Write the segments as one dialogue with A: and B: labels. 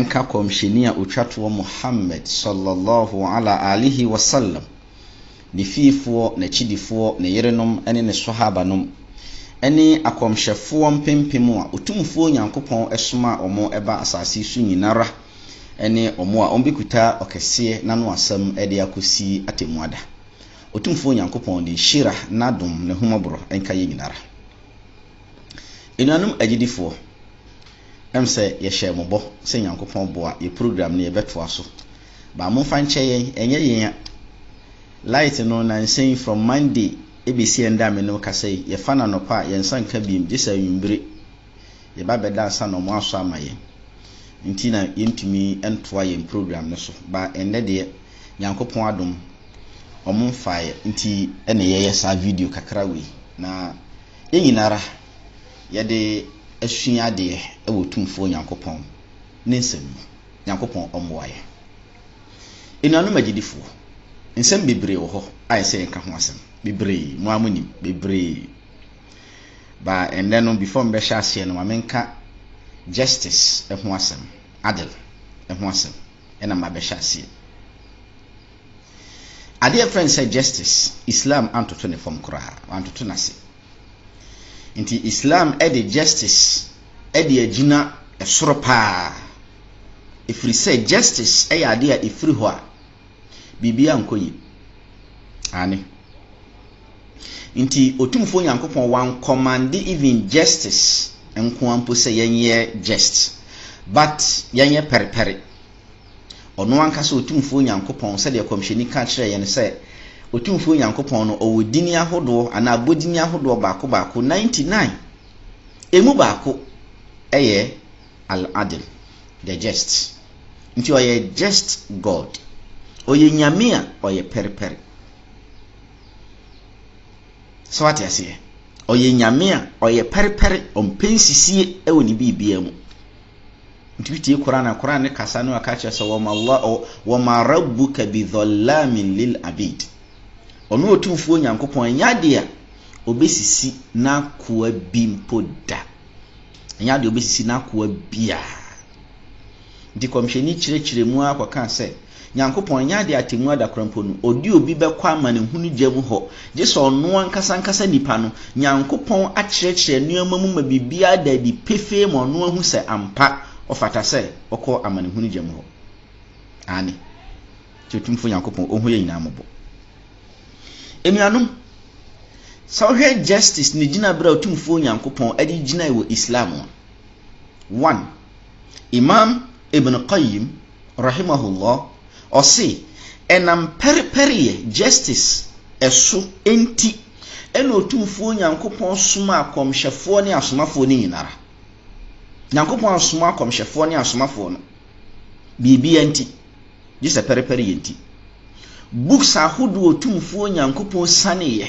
A: nka Kɔmhyɛni a ɔtwa toɔ Muhammad sɔlɔ lɔhu ala alihi wa salam, ne fiefoɔ, n'akyidifoɔ, ne yerenom ne ne Swahaba nom, ne akɔmhyɛfoɔ mpempem a Otumfoɔ Nyankopɔn somaa wɔn ba asaase so nyinara, ne wɔn a wɔbɛkuta ɔkɛseɛ n'ano asɛm de akɔsi atɛmmuada. Otumfoɔ Nyankopɔn ne nhyira, n'adom, n'ahummɔborɔ nka yɛn nyinara. Anuanom agyidifoɔ. Ɛm sɛ yɛhyɛɛ mo bɔ sɛ Nyankopɔn boa yɛ program no yɛbɛtoa so but momfa nkyɛ yɛn ɛnyɛ yɛn a light no nansa yi from Monday ɛbɛsi ɛndɛ a me ne wo kasa yi yɛfa no anɔpa a yɛn nsa nka biom gye sɛ anwummere yɛba bɛda ansa na ɔmo asɔ ama yɛn nti na yɛntumi ntoa yɛn program no so but ɛndɛ deɛ Nyankopɔn adom ɔmo mfaeɛ nti na yɛyɛ saa video kakra wei na yɛn nyinara. yɛde asua adeɛ wɔ Tumfoɔ Nyankopɔn ne nsɛm mu. Nyankopɔn ɔmmoa yɛn. Anuanom agyidifoɔ, nsɛm bebree wɔ hɔ a ɛsɛ yɛnka ho asɛm. Bebree, mo ara monim, bebree. Ba ɛnnɛ no, before mbɛhyɛ aseɛ no, ma menka justice ɛho asɛm, adil ɛho asɛm, ɛna mabɛhyɛ aseɛ. Adeɛ fɛn sɛ justice, Islam antoto ne fam koraa, wantoto n'ase. Nti Islam de justice de agyina soro paa, ɛfiri sɛ justice yɛ adeɛ a ɛfiri hɔ a biribiara nkɔ yie. Aane. Nti Otumfoɔ Nyankopɔn wankɔmande even justice nkoa mpo sɛ yɛnyɛ just but yɛnyɛ pɛrepɛre. Ɔno ankasa Otumfoɔ Nyankopɔn, sɛdeɛ Kɔmhyɛni ka kyerɛɛ yɛn sɛ, Otumfoɔ Nyankopɔn no ɔwɔ dini ahodoɔ anaa abɔdini ahodoɔ baako baako, ninety nine. Ɛmu baako yɛ Al-Adil, the Just. Nti ɔyɛ Just God. Ɔyɛ Nyame a ɔyɛ pɛrepɛre. Sɛ wate aseɛ? Ɔyɛ Nyame a ɔyɛ pɛrepɛre, ɔmpɛ nsisie wɔ ne biribiara mu. Wotumi tie Qur'aan a, Qur'aan ne kasa no a ɛka kyerɛ sɛ wama Allah wama Rabbuka bidhallaamin lil abiid. Ɔno Otumfoɔ Nyankopɔn ɛnyɛ adeɛ a ɔbɛsisi n'akoa bi mpo da. Ɛnyɛ adeɛ a ɔbɛsisi n'akoa biara. Nti Kɔmhyɛni kyerɛkyerɛ mu ara kɔkaa sɛ, Nyankopɔn, ɛnyɛ ade atemmu ada koraa mpo no, ɔde obi bɛkɔ amanehunu gya mu hɔ, gye sɛ ɔno ankasa ankasa nipa no, Nyankopɔn akyerɛkyerɛ nnoɔma mu ma biribiara ada adi pefee ma ɔno ahu sɛ ampa ɔfata sɛ ɔkɔ amanehunu gya mu hɔ. Aane. Nti Otumfoɔ Nyankopɔn, Ɔhu yɛn nyinaa mmɔbɔ. Anuanom, sɛ wohwɛ justice ne gyinaberɛ a Otumfoɔ Nyankopɔn de gyinae wɔ Islam a, one, Imam Ibn Qayyim, Rahimahullah, ɔse, Ɛnam pɛrepɛreyɛ, justice, so nti na Otumfoɔ Nyankopɔn somaa akɔmhyɛfoɔ ne asomafoɔ no nyinara. Nyankopɔn ansoma akɔmhyɛfoɔ ne asomafoɔ no biribiara nti gyesɛ pɛrepɛreyɛ nti. Books ahodoɔ Otumfoɔ Nyankopɔn sianeeɛ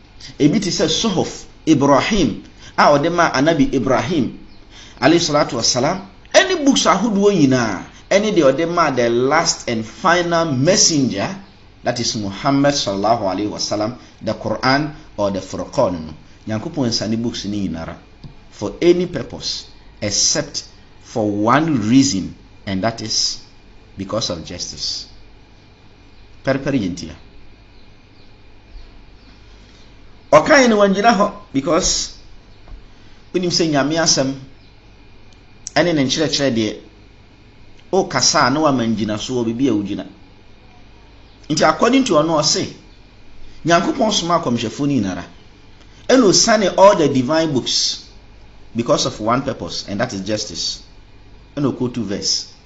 A: Ebi te sɛ Suhuf Ibrahim a ɔde maa Anabi Ibrahim, Alaihi Swalatu Wa Salaam, ɛne books ahodoɔ nyinaa, ɛne deɛ ɔde maa the last and final messenger, that is Muhammad Sallallahu Alaihi Wa Sallam, the Qur'an or the Furqan no. Nyankopɔn nsane books no nyinara for any purpose except for one reason and that is because of justice. Pɛrpɛr yɛ ntia. Ɔkae no wangyina hɔ because wonim sɛ Nyame asɛm ɛne ne nkyerɛkyerɛ deɛ wokasa a na wama ngyinasoɔ baabi a wogyina. Nti according to ɔno ɔse Nyankopɔn soma akɔmhyɛfoɔ no nyinara ɛna osiane all the divine books because of one purpose and that is justice ɛna okotu verse.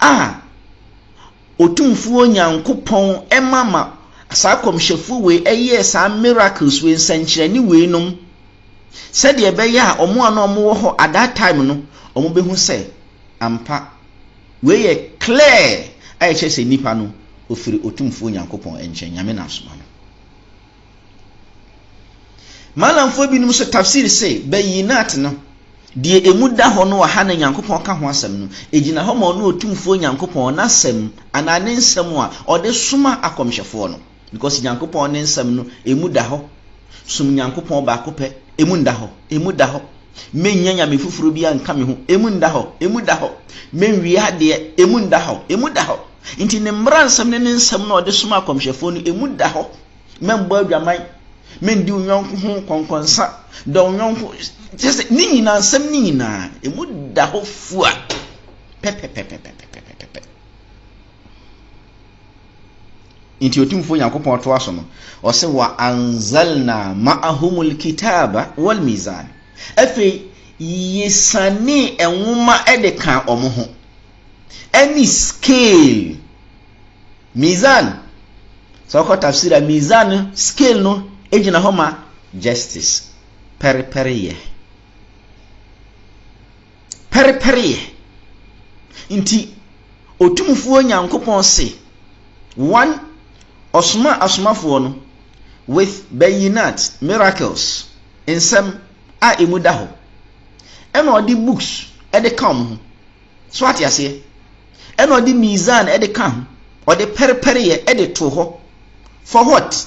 A: a Otumfoɔ Nyankopɔn ma ma saa akɔmhyɛfoɔ wei yɛɛ saa miracles wei, nsɛnkyerɛnne wei nom, sɛdeɛ ɛbɛyɛ a wɔn a na wɔn wɔ hɔ at that time no, wɔn bɛhu sɛ ampa wei yɛ clear a ɛkyerɛ sɛ nipa no ɔfiri Otumfoɔ Nyankopɔn nkyɛn, Nyame na asoma no. Malamfoɔ binom nso tafsir se, Bayinat no, deɛ emu da hɔ no wɔ ha na Nyankopɔn ka ho asɛm no, egyina hɔ ma Ɔno Otumfoɔ Nyankopɔn N'asɛm anaa Ne nsɛm a Ɔde soma akɔmhyɛfoɔ no, because Nyankopɔn Ne nsɛm no emu da hɔ, som Nyankopɔn baako pɛ, emu nda hɔ, emu da hɔ. Mennya nyame foforɔ biara nka me ho, emu nda hɔ, emu da hɔ. Menwie adeɛ, emu nda hɔ, emu da hɔ. Nti ne mmaransɛm ne ne nsɛm no a ɔde somaa akɔmhyɛfoɔ no, emu da hɔ. Mɛmbɔ adwaman, mendi wo yɔnko ho kɔnkɔnsa, dɔ wo yɔnko, kyerɛ sɛ ne nyinaa, nsɛm no nyinaa, emu da hɔ fua pɛpɛpɛpɛpɛpɛpɛpɛ. Enti Otumfoɔ Nyankopɔn toa so no, ɔse, Wa anzalna ma'ahumul kitaaba wal mizaan. Afei Yesianee Nwoma de kaa wɔn ho, ɛne scale, mizaan. Sɛ wokɔ tafsir a, mizaan no, scale no, egyina hɔ ma justice, pɛrepɛreyɛ. pɛrepɛreyɛ nti, Otumfoɔ Nyankopɔn se, One, Ɔsomaa Asomafoɔ no with Bayyinat, miracles, nsɛm a emu da hɔ, ɛna Ɔde books de ka wɔn ho. So ate aseɛ? Ɛna Ɔde Mizan de ka ho, Ɔde pɛrepɛreyɛ de too hɔ, for what?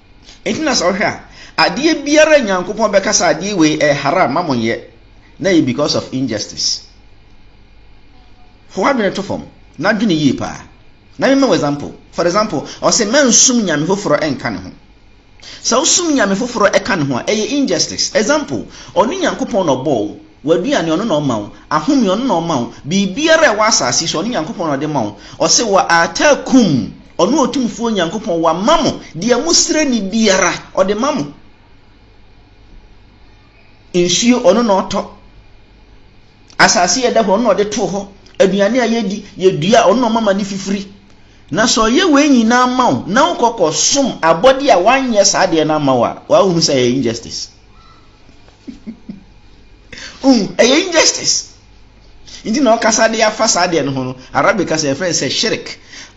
A: Enti na sɛ wohwɛ a, adeɛ biara a Nyankopɔn bɛka sɛ adeɛ wei ɛyɛ haram ma monyɛ na ɛyɛ because of injustice. Fa w'adwene to fam na dwene yie paa. Na mema wo example. For example, ɔse mɛnsom nyame foforɔ ɛnka ne ho. Sɛ wosom nyame foforɔ ɛka ne ho a, ɛyɛ injustice. Example, ɔne Nyankopɔn na ɔbɔɔ wo, w'aduane ɔno na ɔma wo, ahome ɔno na ɔma wo, biribiara a ɛwɔ asaase yi so ɔne Nyankopɔn na ɔde ma wo. Ɔse, Wa aataakum Ɔno Otumfoɔ Nyankopɔn wama mo deɛ mosrɛ no biara, Ɔde ma mo. Nsuo, Ɔno na Ɔtɔ. Asase a ɛda hɔ, Ɔno na Ɔde too hɔ. Aduane a yɛdi, yɛdua, Ɔno na Ɔma ma ne fifiri. Na sɛ Ɔyɛ wei nyinaa ma wo, na wokɔ kɔsom abɔdeɛ a wanyɛ saa adeɛ no ama wo a, waa wohu sɛ ɛyɛ injustice. Wohu? Ɛyɛ injustice. Nti na ɔkasa de afa saa deɛ no ho no, Arabic kasa yɛfrɛ no sɛ shirik.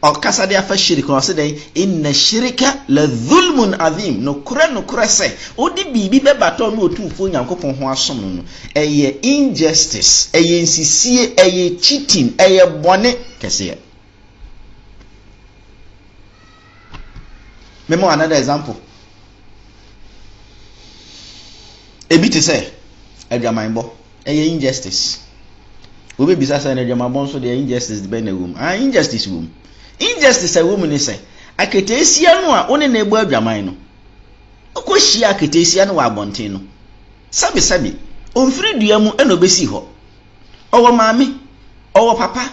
A: Ɔkasa de afa shirik no, ɔse dɛn? Inna shirika la dhulmun adhim. Nokorɛ nokorɛ sɛ, wode biribi bɛbata ɔno Otumfoɔ Nyankopɔn ho asom no no, ɛyɛ injustice, ɛyɛ nsisie, ɛyɛ cheating, ɛyɛ bɔne kɛseɛ. Mɛma wo another example. Ebi te sɛ adwamanbɔ, ɛyɛ injustice. Wobɛbisa sɛ na adwamanbɔ nso deɛ injustice de bɛn na ɛwɔ mu? Ah, injustice wɔ mu. Injustice a ɛwɔ mu ne sɛ aketeesia no a wo ne no ɛbɔ adwaman no, wokɔhyia aketeesia no wɔ abɔnten no, sɛbesɛbe, ɔmfiri dua mu ɛna ɔbɛsii hɔ. Ɔwɔ maame, ɔwɔ papa,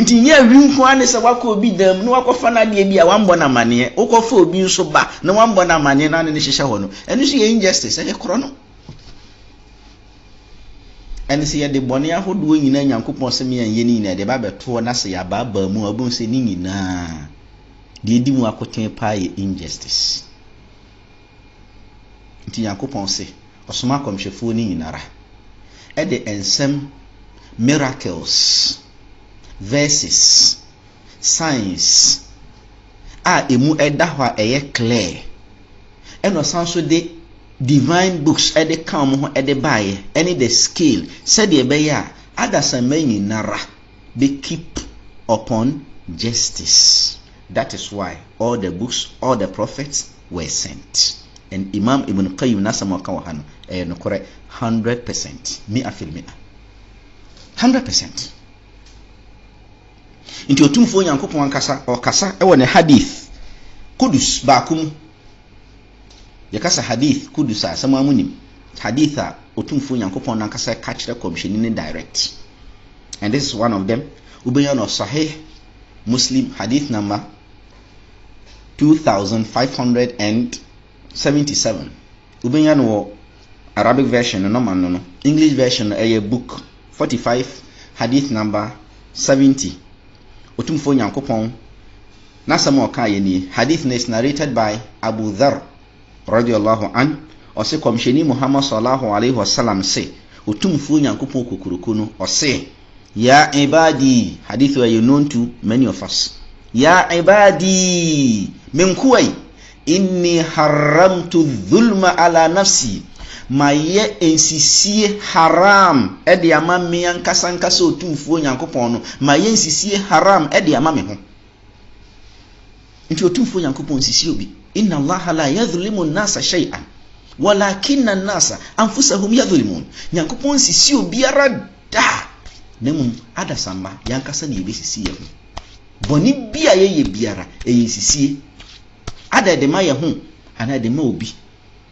A: Nti nyɛ awi nko ara ne sɛ woakɔ obi dan mu na woakɔfa n'adeɛ bi a woammɔ no amanneɛ, wokɔfa obi nso ba na woammɔ no amanneɛ na ne no hyehyɛ hɔ no, ɛno nso yɛ injustice, ɛyɛ korɔno. Ɛne sɛ yɛde bɔne ahodoɔ nyinaa Nyankopɔn sɛ me anyɛ no nyinaa de ba bɛtoɔ na sɛ yɛabaabaa mu a wobɛhu sɛ ne nyinaa deɛ ɛdi mu akoten paa yɛ injustice. Ntsi Nyankopɔn se, Ɔsoma akɔmhyɛfoɔ no nyinara de nsɛm, miracles, verses, signs a emu da hɔ a ɛyɛ clear, ɛna ɔsan nso de divine books de ka wɔn ho de baeɛ, ɛne the scale, sɛdeɛ ɛbɛyɛ a adasamma nyinara bɛ keep upon justice. That is why all the books, all the prophets were sent and Imam Ibn Qayyim n'asɛm a ɔka wɔ ha no ɛyɛ nokorɛ hundred percent, mi'a fil mi'a, hundred percent. Nti Otumfoɔ Nyankopɔn ankasa ɔkasa wɔ ne hadith Qudus baako mu Yɛka sɛ Hadith Qudus a, sɛ mo ara mo nim, Hadith a Otumfoɔ Nyankopɔn no ankasa ka kyerɛ Kɔmhyɛni no direct. And this is one of them, wobɛnya no Sahih Muslim Hadith number 2577. Wobɛnya no wɔ Arabic version no normal no no, English version no ɛyɛ book 45 Hadith number 70. Otumfoɔ Nyankopɔn N'asɛm a ɔkaa yɛ nie, Hadith no is narrated by Abu Dharr, Radi Allahu Anh, ɔse Kɔmhyɛni Muhammad Sallallaahu Alaihi Wasallam se, Otumfuo Nyankopɔn Kokuroko no, ɔse, Ya Ibaadii, Hadith wei yɛ known to many of us, Ya Ibaadii, Me nkoa yi, Inni Harramtu Dhulma Ala Nafsii, Mayɛ nsisie Haraam de ama me ankasa ankasa Otumfuo Nyankopɔn no, Mayɛ nsisie Haraam de ama me ho. Nti Otumfoɔ Nyankopɔn nnsisi obi. Inna Allaha laa yadhlimu nnaasa shay'an walakinna nnaasa anfusahum yadhlimun, Nyankopɔn nnsisi obiara da, na mmom adasamma yɛn ankasa na yɛbɛsisi yɛn ho. Bɔne bi a yɛyɛ biara, ɛyɛ nsisie. Ada ɛde ma yɛn ho anaa ɛde ma obi.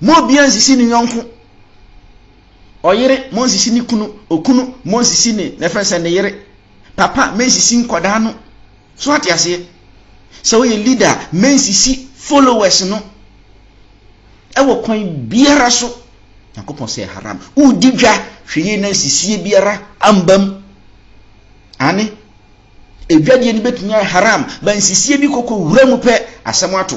A: Mma obiara nsisi ne yɔnko. Ɔyere, mma ɔnsisi ne kunu. Okunu, mma ɔnsisi ne na ɛfɛn sɛ ne yere. Papa, mma nsisi nkwadaa no. So ate aseɛ? Sɛ woyɛ leader a, mma nsisi followers no. Ɛwɔ kwan biara so. Nyankopɔn sɛ haram. Wodi dwa, hwɛ yie na nsisie biara ambam. Ane, edwadie no bɛtumi ayɛ haram, ba nsisie bi kɔkɔ wura mu pɛ, asɛm ato.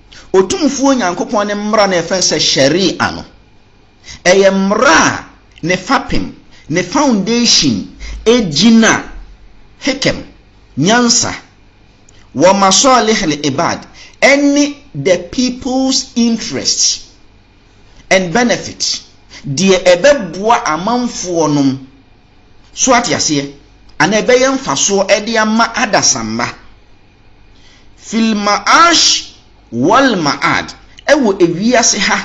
A: Otumfoɔ Nyankopɔn ne mmara no a yɛfrɛ no sɛ Shari'ah no, ɛyɛ mmara a ne fapem, ne foundation, gyina Hikam, nyansa, wa Masalih al-Ibad, ɛne the people's interests and benefit, deɛ ɛbɛboa amanfoɔ nom, so ate aseɛ, anaa ɛbɛyɛ mfasoɔ de ama adasamma. Fil Ma'ash wal Ma'ad, ɛwɔ ewiase ha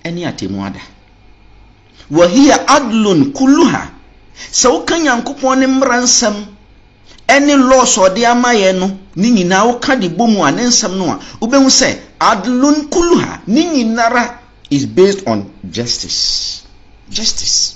A: ne atemmuada. Wa hiya adlun kulluha, sɛ woka Nyankopɔn ne mmara nsɛm ne laws a ɔde ama yɛn no ne nyinaa woka de bɔ mu a, ne nsɛm no a, wobɛhu sɛ adlun kulluha, ne nyinara is based on justice. Justice.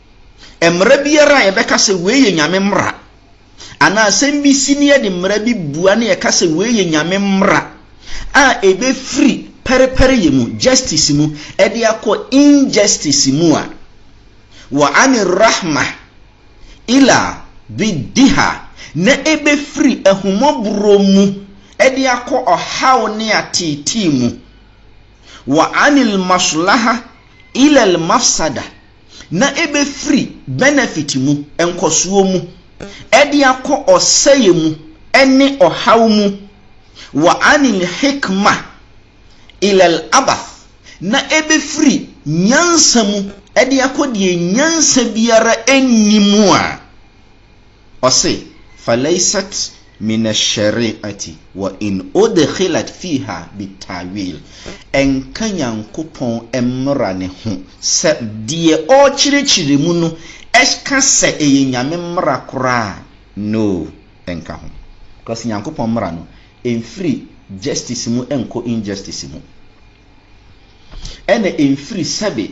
A: Mmara biara a yɛbɛka sɛ wei yɛ Nyame mmara, anaa asɛm bi si na yɛde mmara bi bua na yɛka sɛ wei yɛ Nyame mmara a ɛbɛfiri pɛrepɛreyɛ mu, justice mu, de akɔ injustice mu a, wa ani rahmah ila biddiha, na ɛbɛfiri ahummɔborɔ mu de akɔ ɔhaw ne ateetee mu, wa anil maslahah ilal mafsadah, na ɛbɛfiri benefit mu, nkɔsoɔ mu, de akɔ ɔsɛeɛ mu ne ɔhaw mu, wa ani lhikma ila labath, na ɛbɛfiri nyansa mu de akɔ deɛ nyansa biara nni mu a. Ɔse, Falaysat min ash-shari'ati wa in udkhilat fiha bit-ta'wil, Ɛnka Nyankopɔn mmra no ho sɛ deɛ ɔrekyerɛkyerɛ mu no ka sɛ ɛyɛ Nyame mmra koraa a, no, ɛnka ho. Cause Nyankopɔn mmra no, ɛmfiri justice mu nkɔ injustice mu, ɛna ɛmfiri sɛbe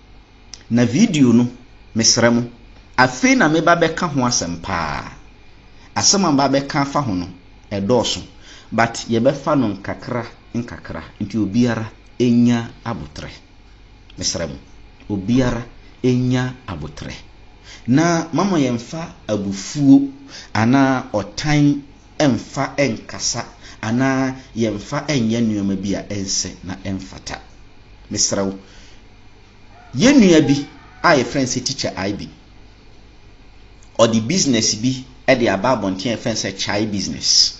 A: Na video no, mesrɛ mo, afei na meba bɛka ho asɛm paa. Asɛm a maba bɛka afa ho no, ɛdɔɔso, but yɛbɛfa no nkakra nkakra nti obiara ɛnya aboterɛ. Mesrɛ mo, obiara ɛnya aboterɛ. Na mama yɛmfa abufuo anaa ɔtan mfa nkasa anaa yɛmfa nyɛ nneɛma bi a ɛnsɛ na ɛmfata. Mesrɛ wo. Yɛn nua bi a yɛfrɛ no sɛ Tikya Aibi, ɔde business bi de aba abɔnten a yɛfrɛ no sɛ Chai Business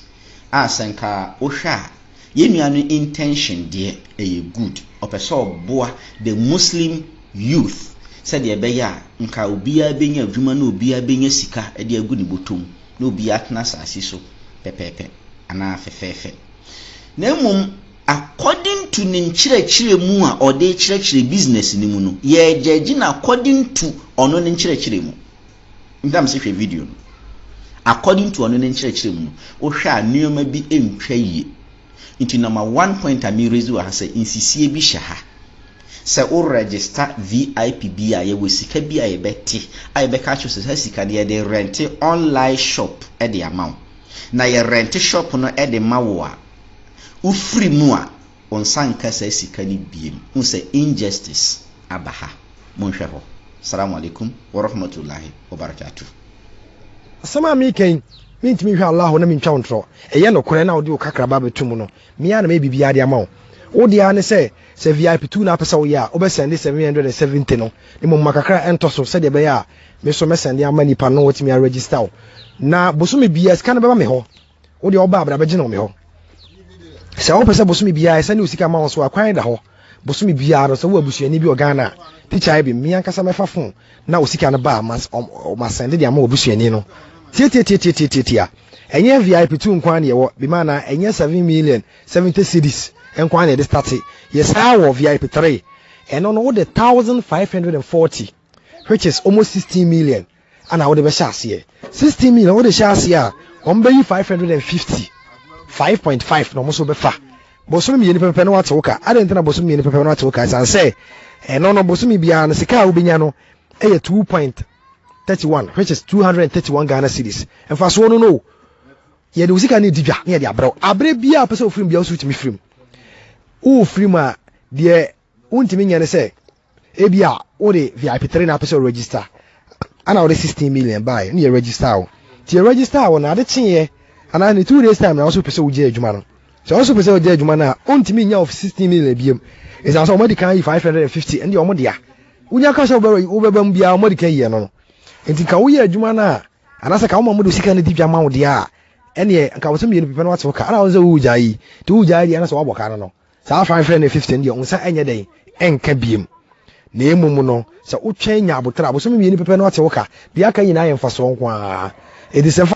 A: a sɛ nka wohwɛ a, yɛn nua no intention deɛ ɛyɛ good. Ɔpɛ sɛ ɔboa the Muslim youth sɛdeɛ ɛbɛyɛ a nka obiara bɛnya adwuma na obiara bɛnya sika de agu ne bɔtɔ mu. na obi atena asase so pɛpɛɛpɛ anaa fɛfɛɛfɛ, na mmom according to ne nkyerɛkyerɛ mu a ɔde rekyerɛkyerɛ business no mu no, yɛregyɛgye no according to ɔno ne nkyerɛkyerɛ mu. Ntam sɛ hwɛ video no. According to ɔno ne nkyerɛkyerɛ mu no, wohwɛ a nneɛma bi ntwa yie. Nti number one point a me raise wɔ ha sɛ nsisie bi hyɛ ha sɛ wo register VIP bi a yɛwɔ sika bi a yɛbɛte a yɛbɛka akyerɛ sɛ saa sika no yɛde rente online shop de ama wo na yɛ rente shop no de ma wo a wofiri mu a wo nsa nka saa sika no biem. Wohu sɛ injustice aba ha. Monhwɛ hɔ. Salaam alaikum warahmatullahi wabarakatuh. Asɛm
B: a mereka yi, mentumi nhwɛ Allah hɔ na mentwa wo ntorɔ. Ɛyɛ nokorɛ na wode wo kakraba abɛto mu no, me ara na mɛyɛ biribiara de ama wo. Wo deɛ ara ne sɛ, sɛ VIP tour no ara wopɛ sɛ woyɛ a, wobɛsɛnde seven hundred and seventy no, na mmom ma kakra ɛntɔ so sɛdeɛ ɛbɛyɛ a me nso mɛsɛnde ama nnipa no na wɔatumi aregister wo. Na bosome biara, sika no bɛba me hɔ. wo deɛ ɔba abra bɛgye no me hɔ sɛ wopɛ sɛ bosome biara ɛsɛ ne osika ma wo so akwan da hɔ bosome biara no sɛ wo abusuani bi wɔ Ghana tikya bi mmea nkasa mɛfa fon na osika no ba mas masɛnde de ama obusuani no tiatiatiatiatiatia ɛnyɛ VIP tu nkwa ne ɛwɔ bi ma na ɛnyɛ 7 million 70 cities nkwa ne ɛde starte yɛ saa wɔ VIP 3 ɛno no wode 1540 which is almost sixteen million ɛna wode bɛhyɛ aseɛ sixteen million wode hyɛ aseɛ a wɔn bɛyi five hundred and fifty five point five na wɔn nso bɛfa bosome mmienu pɛpɛpɛ na wate wo ka adɛn nti na bosome mmienu pɛpɛpɛ na wate wo ka ɛsan sɛ ɛno no bosome biara no sika a wobɛnya no ɛyɛ two point thirty one which is two hundred and thirty one Ghana cedis mfasoɔ no no yɛde wo sika no di dwa na yɛde abrɛ wo abrɛ biara pɛ sɛ wofirim biara wo so wotumi firim wofirim a deɛ wontumi nyɛ ne sɛ ebia wode vip three na apɛ sɛ ɔregister ana wode sixteen million baeɛ ne yɛ register wo nti yɛ register wo na ade kyeeɛ anaa ne two days time na ɔso pɛ sɛ wogye adwuma no sɛ ɔso pɛ sɛ wogye adwuma no a wontumi nya of sixteen million biam ɛsiane sɛ wɔadi kan yi five hundred and fifty ɛne wɔn dea wonya ka sɛ wobɛba mu biara wɔadi kan yi ɛno no nti nka woyɛ adwuma no a anaasɛ ka woma mode sika no di dwa ma wo deɛ a ɛneɛ nka wo sɛ mmienu pepɛ no wate wo ka ana wo sɛ wogyaa yi nti wogyaa yi deɛ ana sɛ woabɔ ka no no Saa Five Hundred and Fifty no deɛ wo nsa nyɛ dɛn nka biem, na mmom no sɛ wotwɛn nya aboterɛ a, bosome mmienu pɛpɛ na ɔte wo ka. Deɛ aka nyinaa yɛ mfasoɔ nko ara. Enti sɛ fa.